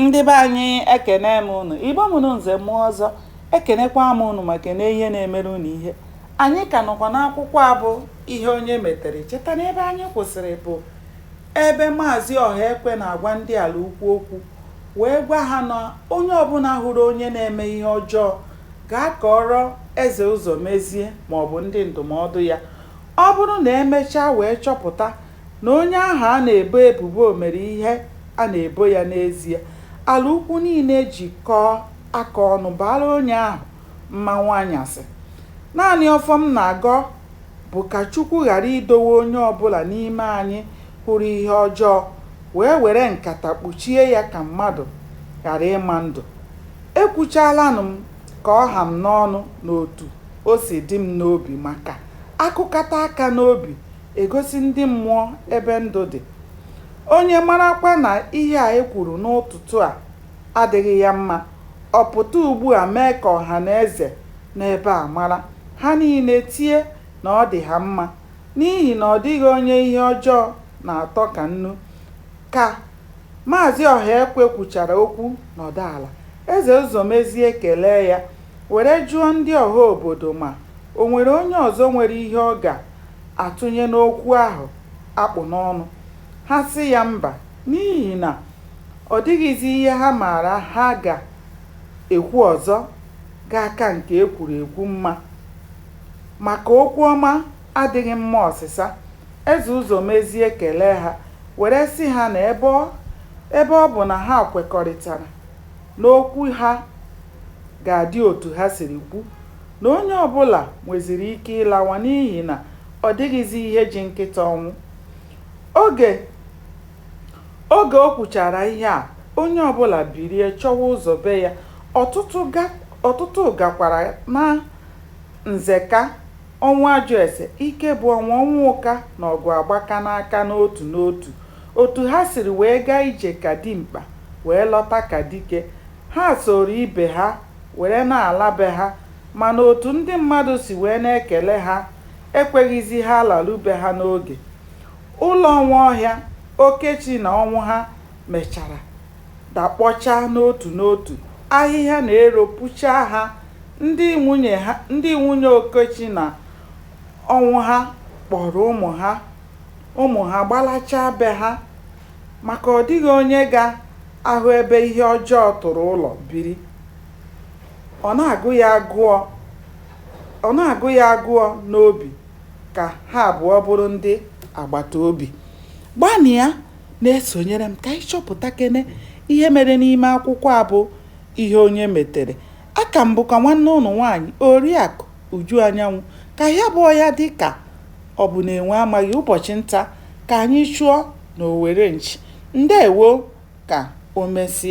Ndị be anyị ekene m unu, Igbo mụrụ nze mụọ ọzọ, ekenekwa m unu ma kene ihe na-emere unu ihe. Anyị ka nọkwa n'akwụkwọ a bụ Ihe Onye Metere. Cheta na ebe anyị kwụsịrị bụ ebe Maazị Ọhaekwe na-agwa ndị Alaukwu okwu wee gwa ha na onye ọbụla hụrụ onye na-eme ihe ọjọọ ga-akọrọ Eze Ụzọmezie maọbụ ndị ndụmọdụ ya. Ọ bụrụ na emechaa wee chọpụta na onye ahụ a na-ebo ebubo mere ihe a na-ebo ya n'ezie, Alaukwu niile ejikọọ aka ọnụ baara onye ahụ mmanwụ anyasị. Naanị ọfọ m na-agọ bụ ka Chukwu ghara idowe onye ọ bụla n'ime anyị hụrụ ihe ọjọọ wee were nkata kpuchie ya ka mmadụ ghara ịma ndụ. Ekwuchaalanụ m ka ọ ha m n'ọnụ n'otu o si dị m n'obi maka a kụkata aka n'obi e gosi ndị mmụọ ebe ndụ dị. Onye marakwa na ihe a e kwuru n'ụtụtụ a adịghị ya mma, ọ pụta ugbu a mee ka ọha na eze nọ ebe a mara, ha niile tie na ọ dị ha mma, n'ihi na ọ dịghị onye ihe ọjọọ na-atọ ka nnu. Ka Maazị Ọhaekwe kwuchara okwu nọdụ ala, Eze Ụzọmezie ekelee ya, were jụọ ndị ọha obodo ma o nwere onye ọzọ nwere ihe ọ ga atụnye n'okwu ahụ a kpụ n'ọnụ, ha sị ya mba n'ihi na ọ dịghịzi ihe ha maara ha ga-ekwu ọzọ ga-aka nke e kwuru ekwu mma, maka okwu ọma adịghị mma ọsịsa, Eze Ụzọmezie kelee ha were sị ha na ebe ọ bụ na ha kwekọrịtara na okwu ha ga-adị otu ha siri kwu, na onye ọ bụla nweziri ike ịlawa n'ihi na ọ dịghịzi ihe ji nkịta ọnwụ. Oge o kwuchara ihe a, onye ọ bụla bilie chọwa ụzọ be ya, ọtụtụ gakwara naa Nzeka, Ọnwụajụese, Ikebụọnwụ, Ọnwụka na Ọgụagbaka n'aka n'otu n'otu. Otu ha siri wee gaa ije ka dimkpa, wee lọta ka dike. Ha sooro ibe ha were na-ala be ha mana otu ndị mmadụ si wee na-ekele ha ekweghịzi ha laru be ha n'oge. Ụlọ Nwaọhịa, Okechi na Ọnwụha mechara dakpọchaa n'otu n'otu, ahịhịa na ero puchaa ha, ndị nwunye Okechi na Ọnwụha kpọrọ ụmụ ha gbalachaa be ha. Maka ọ dịghị onye ga-ahụ ebe ihe ọjọọ tụrụ ụlọ biri. Ọ na-agụ ya agụọ n'obi ka ha abụọ bụrụ ndị agbata obi. Gbanịa na-esonyere m ka anyị chọpụtakene ihe mere n'ime akwụkwọ a bụ Ihe Onye Metere. A ka m bụkwa nwanne ụnụ nwaanyị, Oriakụ. Uju Anyanwụ, ka ya bụọ ya dị ka ọ bụ na enwe amaghị ụbọchị nta ka anyị chụọ n'owere nchi. Ndewo ka o mesịa.